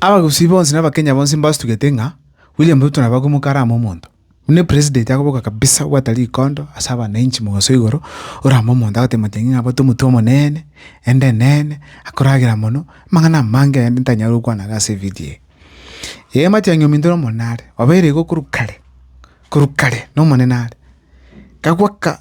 Abagusii bonsi na Abakenya bonsi mbastugete ng'a William Ruto nabo akoimoka ara amo omonto, buna epresident akoboka kabisa obwate rikondo ase abanainchi mogaso igoro, ore amo omonto agoteba amachang'e ng'a abwate omotwe omonene, ende enene, akoragera mono, amang'ana amange ayande ntanyare gokwana iga ase evidio eye. Ee amachang'e ominto na omonene are, obeire igo korwa kare, korwa kare na omonene are, kagoaka.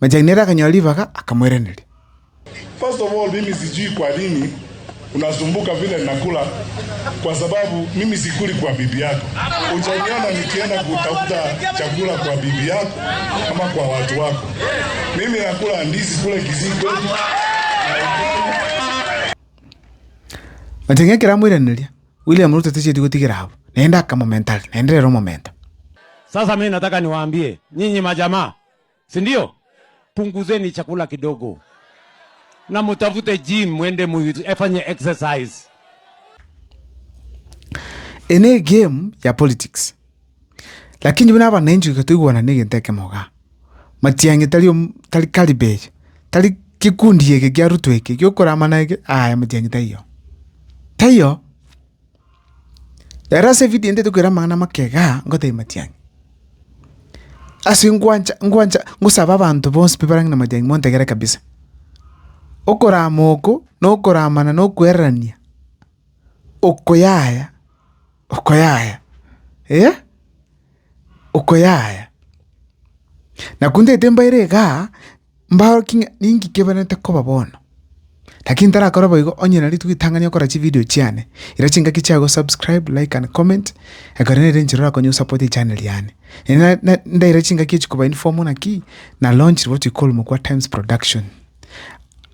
Na Jairo akanyora ribaga, akamoiraneria, na tang'e ekero amoiraneria, William Ruto tacheti gotigera abwo, naende akamomenta are, naende rero omomenta. si ndio? Punguzeni chakula kidogo na mutafute gym, mwende mufanye exercise. Eye ne game ya politics lakini buna abananchi iga toigwanane egento ekemo igaa. Matiang'i tari om- tari calibre eye, tari kekundi eke kia Ruto eke giokoramana eke, aye Matiang'i taiyo, taiyo. Ere ase evidio ende tokoira amang'ana amachega ngotebia matiang'i. Ase ngwancha ngwancha ngosabe abanto bonsi pi barange na matiang'i montegere kabisa. Okorama oko na okoramana na okwererania oko yaya oko yaya eh oko yaya. Naku ntagete mbaire igaa Mbaorokie ng'a ninki keberete koba bono. Lakini tarakore boigo, onye nari togitang'ani okora chivideo chiane, ira chingaki chiao gosubscribe, like and comment, ekero nere enchera orakonye gosapote echaneri yane. Nere na- na- ndaira chingaki echi koba informal naki na launch rirobo toikorumwa kwa Times Production.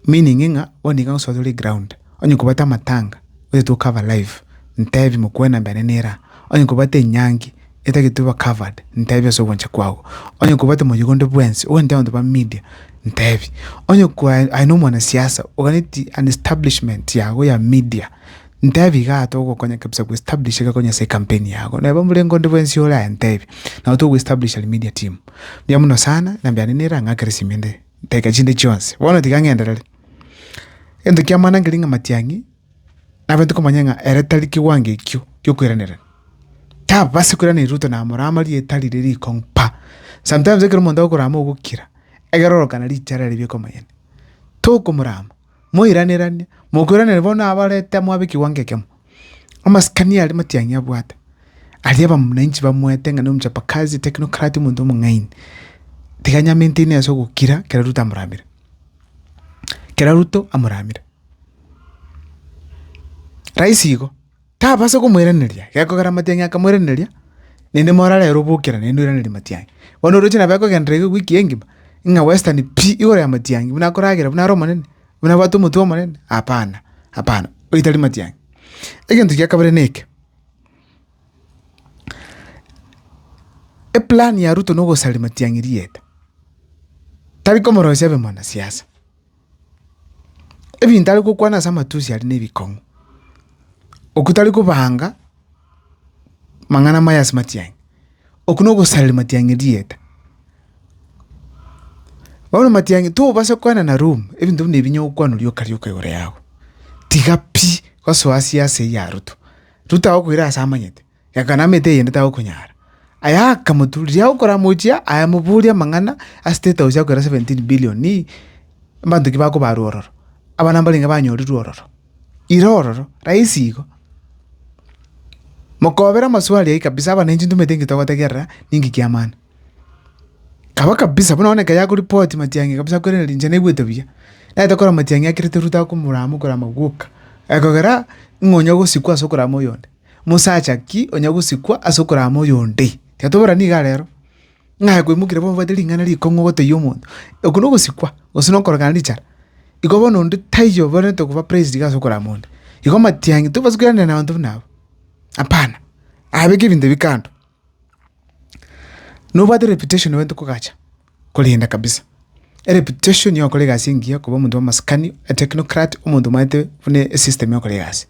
Meaning ng'a bono iga gosoa tore ground, onye kobwate amatanga, gose tocover live, ntebi mokwena mbene nera, onye kobwate enyangi. etagete oba covered, ntebi ase ogwancha kwago. Onye kobwate moyega onde bwensi, ogantee abanto ba media, ntebi. Onye kwae aye na omwana siasa, oganeti an establishment yago ya media, ntebi igaa togokonya kabisa go establish iga konya ase ecampaign yago. Neba oborengo onde bwensi ore aye ntebi, nabo togo establish al media team. Mbuya mono sana, na mbiane nere ang'akere simi ende, ntaika chinde chionsi. Bono tiga ng'enderere, egento kiamana nkereng'a matiang'i. Nabaete komanya ng'a ere tari kiwango ekio giokweranerania. Tababasi kweranera ruto na amoro ama rieta riria riko mpa. Sometimes ekero omonto agokorama ogokira, egere orokane richara ribe rikomonyene. Tokomorama, moiraneranie, mokweranere bono abarete mwabe kiwango ekemo. Amasikani aria Matiang'i abwate, aria abamnainchi bamwete ng'a nigo mchapakazi, technocrat, omonto omong'aini. Tiga nyamentaine ase ogokira kero Ruto amoramire. Kero Ruto amoramire. Raisi igo, tabasa komoiraneria, gekogera amatiang'i akamoiraneria, naende more are ere obokera naende oiranerie amatiang'i. Bono oroche nabo akogenderera iga ewiki engima, ng'a western pi igoro y'amatiang'i buna akoragera buna are omonene, buna abwate omotwe omonene, hapana, hapana, oyio tari matiang'i. Egento gia kabere na eke, eplan ya ruto na ogosaria matiang'i rieta, tari komorosia abe mwanasiasa. Ebinto are gokwana ase amatusi aria nebikong'u, oku tari kobanga mang'ana amaya ase matiang'i, oku na ogosareri matiang'i erieta. Bono matiang'i tobasa kwana na ruma, ebinto ebi nebinya gokwanwa rioka rioka igoro yago, tiga pi, gasoa asia ase eyio arutwa. Ruta agokwera ase amanyete. Gakana amete eyende tagokonyara. Aye akamoturia okoramochia, amoboria amang'ana a state house akorera seventeen billion abanto ki bakobarwa ororo, abana mbarenge banyorirwe ororo, ira ororo, rahisi igo. Mokobera amaswali ayio kabisa abananchi ntumanyete nki togotegerera ninki kia maana. Kaba kabisa buna one ekero yakoreport matiang'i kabisa kwerende inche naigwete buya. Naete korora matiang'i akirete Ruto akomorama okorama gwoka, ekogera ng'a onya ogosikwa ase okorama oyonde. Mosacha ki onya gosikwa ase okorama oyo onde? Tiatobora nigo arero. Ng'aye kwaimokirie bono obwate ring'ana rikong'u ogoteyia omonto. Oko nogosikwa gose nokorogana richara. Igo bono onde taiyo obenerete koba praised iga ase okorama onde. Igo matiang'i tobasa koiranera nabanto buna aba. Hapana. Abeke ebinto ebi kando. Nobwate reputation bainto kogacha. korenda kabisa ereputation ya gokora egasi engiya koba omonto bwa amasikani etechnocrat omonto omanyete buna esystem ya gokora egasi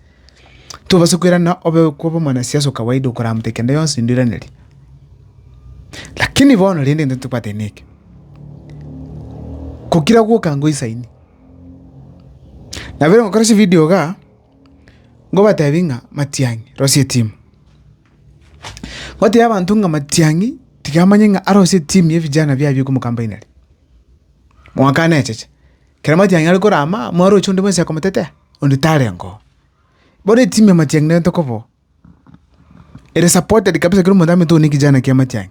tobasa koirana obe koba omwanasiasa o kawaida okoramate kende yonsi ndoiraneri lakini bono rende egento tobwate neke kokira gwoka ngoisaini nabo ekero ngokora chividio igaa ngobatebi ng'a matiang'i rosia etimu. Gotebia abanto ng'a Matiang'i tiga amanye ng'a arose etimu ya vijana biaye bia okomokamba inari. Mwaka necheche, ekero Matiang'i are korama, mwaroche onde bwensi akomotetea? Onde tarenga oo. Bono etimu ya Matiang'i nerente koba oo, ere supported kabisa kera omonto amanyete oyo nekijana kia Matiang'i.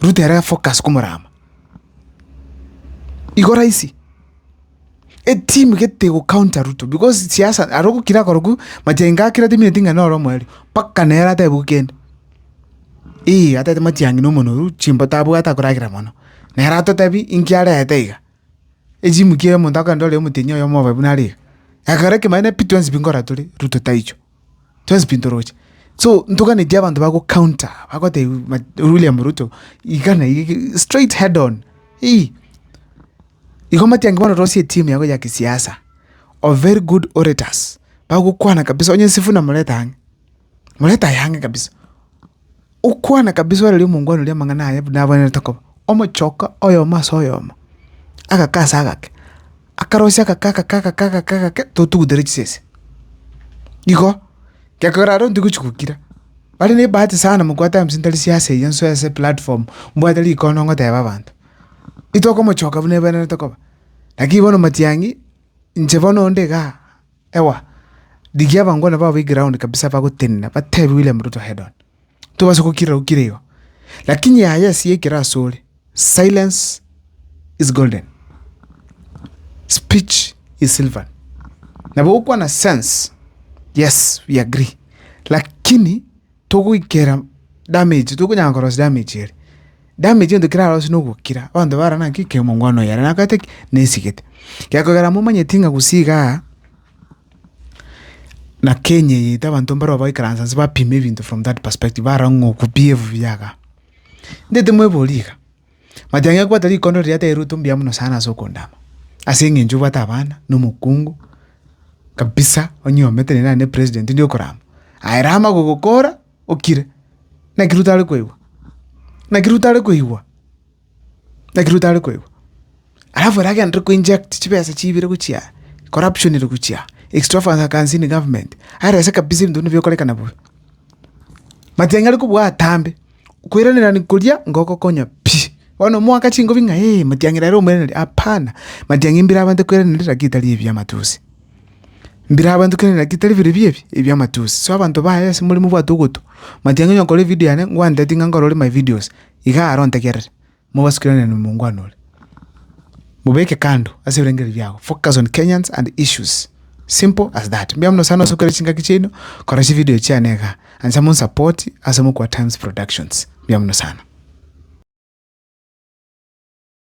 ruta ere focus komorama. Igo rahisi, etimu gete ego counter Ruto because siasa aro ogokira korokwa machainga akira temineti ng'a noro omoerio mpaka nere atebiwe kende eeh atagete matiang'i na omonwe oyio chimbo tabwate akoragera mono. Nere atotebi inki arete iga, echimuki omonto akonyora ore omotenyi oyomo obe buna are iga. Ekero ekemanyereiri pi twonsi pi nkora tore Ruto taichwe. Twensi pi ntoroche. So ntoganetie abanto ba gocounter, bagoteba ma William Ruto iga na iga straight head on ii. Igo omatiangi bono orosie etimu yago ya kisiasa, of very good orators, bagokwana kabisa onye Sifuna moreta ang'e, moreta aye ang'e kabisa. Okwana kabisa orari omongwana oria amang'ana aye buna abwenerete koba. Omochoka oyomo ase oyomo, agake ase agake, akarosia agake agake agake agake agake totugutera chisese. Igo, gekogera aro ntigochi gokira, bare ne ebahati sana mokwa times ntari sia ase eyio nsoe ase platform, mbwate rikono ngoteba abanto. Itoke omochoka buna ebwenerete koba. Lakini bono matiang'i, inche bono onde igaa. Ewa, rigia abangwana bao be ground kabisa bagotenena, batebie William Ruto head on. Tobasa gokira okire igo. Lakini yaya esiya ekero asore, silence is golden. Speech is silver. Nabo gokwana sense, yes we agree. Lakini. togoikera damage tokonyara korosia damage ere. Damage egento kerarosiwu na ogokira, abanto bare naki kera omongwana oyo are nakorete ki? Nesigete. Gekogera momanyeti ng'a gose igaa na kenya eye ete abanto mbarobwo baikaransa nse bapime ebinto from that perspective, barora ng'a oku biewu biaga. Ndeti mwebori iga. But ang'e kobwata rikondo riria terirwete ombuya mono sana ase okondama, ase eng'encho obwate abana, na omokungu, kabisa onye omete nere naende president ndi okorama, aye rama gogokora okire, naki ruto are koigwa, naki ruto are koigwa, naki ruto are koigwa. Alafu ere agenderire ko inject chibesa chibire gochia aa, corruption ere gochia aa, extravagance in government, arese kabisa ebinto buna bigokorekana buya. But ang'e are kobua atambe. Okoiranerania koria ngogokonya pi. Bono omoaka chingobi ng'a ee, matiang'i rero omweraneri, hapana, matiang'i mbirabante kweranera riria ritari ebi biamatusi. Mbirabante kweranera riria ritari bire pi ebi, ebiamatusi. So abanto baye ase more mobwate ogotu, matiang'i onye nkore evidio yane, ngwanteti ng'a nkorore my videos, igaa aro ntegerere. Mobasukerane nomongwana ore. Mobeke kando ase ebirengererio biago. Focus on Kenyans and issues. Simple as that. Mbuya mono sana ase okora chingaki chiaino, kora chivideo chiane iga. Ancha monsapoti ase omokwa Times Productions. Mbuya mono sana.